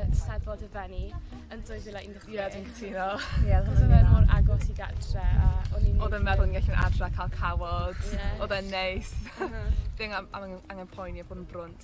Eisteddfod y Fenni yn 2016. Ie, dwi'n cytuno. Ie, oedd e mor agos i gatre a o'n i'n... Oedd e'n meddwl ni'n gallu'n adra cael cawod. Ie. Oedd e'n neis. Ddim am, am angen poeni a bod yn brwnt.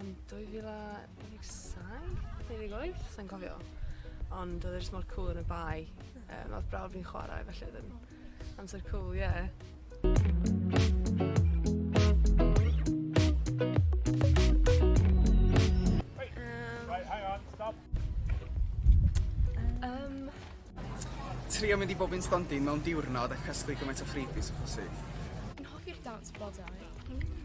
yn 2017, 18, sa'n cofio. Ond oedd e jyst mor cŵl yn y bae. Um, oedd brawd fi'n chwarae, felly oedd yn amser cŵl, ie. Yeah. Um, trio mynd i bob un stondin mewn diwrnod a casglu gymaint o freebies o phosib. Yn hoffi'r dance bodau. Mm.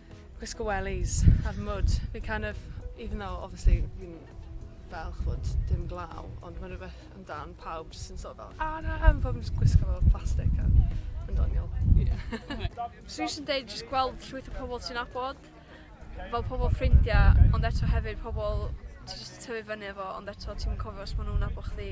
gwisgo wellies a'r mwd. Fi kind of, even though obviously fi'n fel ch'mod dim glaw ond ma' rwbeth amdan pawb jyst yn sort of fel a na ma' pobol yn jyst gwisgo fel plastic a yn doniol. Ie. Swn i jyst yn deud jyst gweld llwyth o pobol ti'n nabod fel pobol ffrindia ond eto hefyd pobol ti jyst yn tyfu fyny efo ond eto ti'm yn cofio os ma' nw'n nabo chdi.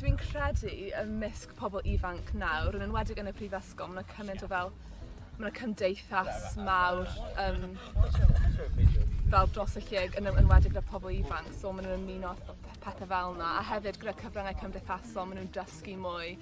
Dwi'n credu ymysg pobl ifanc nawr, yn enwedig yn y prifysgol, mae yna cymaint o fel mae yna cymdeithas mawr um, fel dros y lle yn enwedig gyda pobl ifanc so maen nhw'n ymuno pethau fel yna a hefyd gyda cyfryngau cymdeithasol maen nhw'n dysgu mwy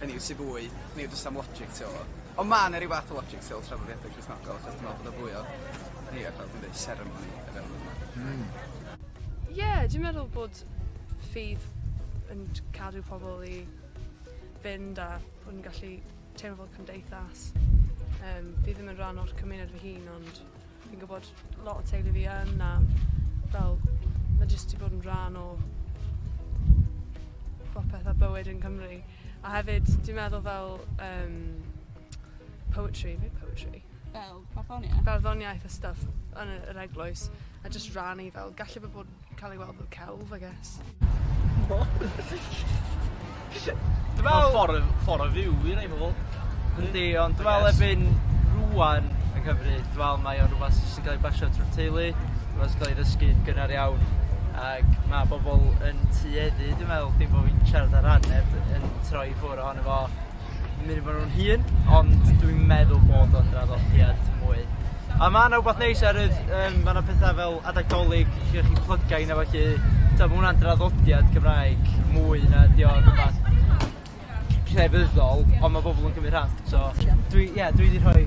Hynny yw sy fwy neu jyst am logic ti me'wl? Ond ma' 'na ryw fath o logic tu ol traddodiadau Cristnogol achos dwi me'wl bod o fwy o ni fatha dwi'n deud seremoni o fewn hwnna. Hmm. Ie dwi'n meddwl bod ffydd yn j- cadw pobol i fynd a bo' ni'n gallu teimlo fel cymdeithas. Yym fi ddim yn rhan o'r cymuned fy hun ond Fi'n gwybod lot o teulu fi yn a fel mae jyst wedi bod yn rhan o popeth a bywyd yn Cymru. A hefyd, dwi'n meddwl fel um, poetry, neu poetry? Fel barddoniaeth? Barddoniaeth a stuff yn yr eglwys, a just rannu fel, gallu bod bod Cael ei weld fel celf, I guess. Dwi'n meddwl... Ffordd, ffordd o fyw i rei pobl. Yndi, ond dwi'n meddwl erbyn rwan yng Nghymru, dwi'n meddwl mae o'n rhywbeth sy'n cael ei basio trwy'r teulu, rhywbeth sy'n cael ei ddysgu gynnar iawn, ac mae bobl yn tueddu, dwi'n meddwl, dim bod fi'n siarad ar ran neb, yn troi ffwr ohono fo, yn mynd efo'r un hŷn ond dwi'n meddwl bod o'n draddodiad mwy a ma' 'na wbath neis ar y yym ma' 'na petha fel adeg Dolig lle chi'n plyga rheina felly t'o' ma' wnna'n draddodiad Cymraeg mwy na 'di o rwbath crefyddol on' ma' bobol yn cymryd rhan so dwi ie dwi 'di rhoi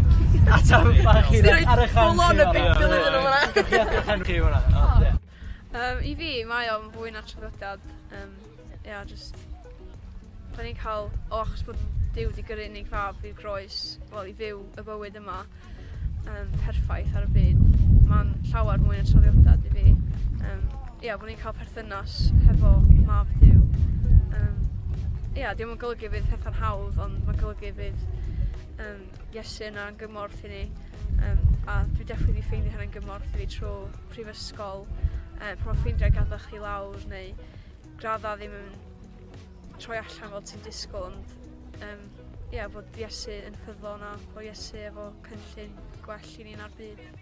atal bach i ar y chan... Ti roid full on y Beibl iddyn nw fan 'na. Gewch chi edrych arno chi fan 'na. O. Diolch. Yym i fi mae o'n fwy na traddodiad yym ia jyst 'dan ni'n ca'l o achos bod Duw 'di gyrru unig fab i'r groes wel i fyw y bywyd yma yym perffaith ar y byd ma'n llawer mwy na traddodiad i fi yym ia bo' ni'n ca'l perthynas hefo mab Duw yym ia 'di o'm yn golygu bydd petha'n hawdd ond ma'n golygu bydd yym Iesu yna yn gymorth i ni yym a dwi definly 'di ffeindio hynna'n gymorth i fi trw prifysgol yy pan ma' ffrindiau gadal chdi lawr neu gradda ddim yn troi allan fel ti'n disgwl ond yym ia fod Iesu yn ffyddlon a bo' Iesu efo cynllun gwell i ni na'r byd. Ia.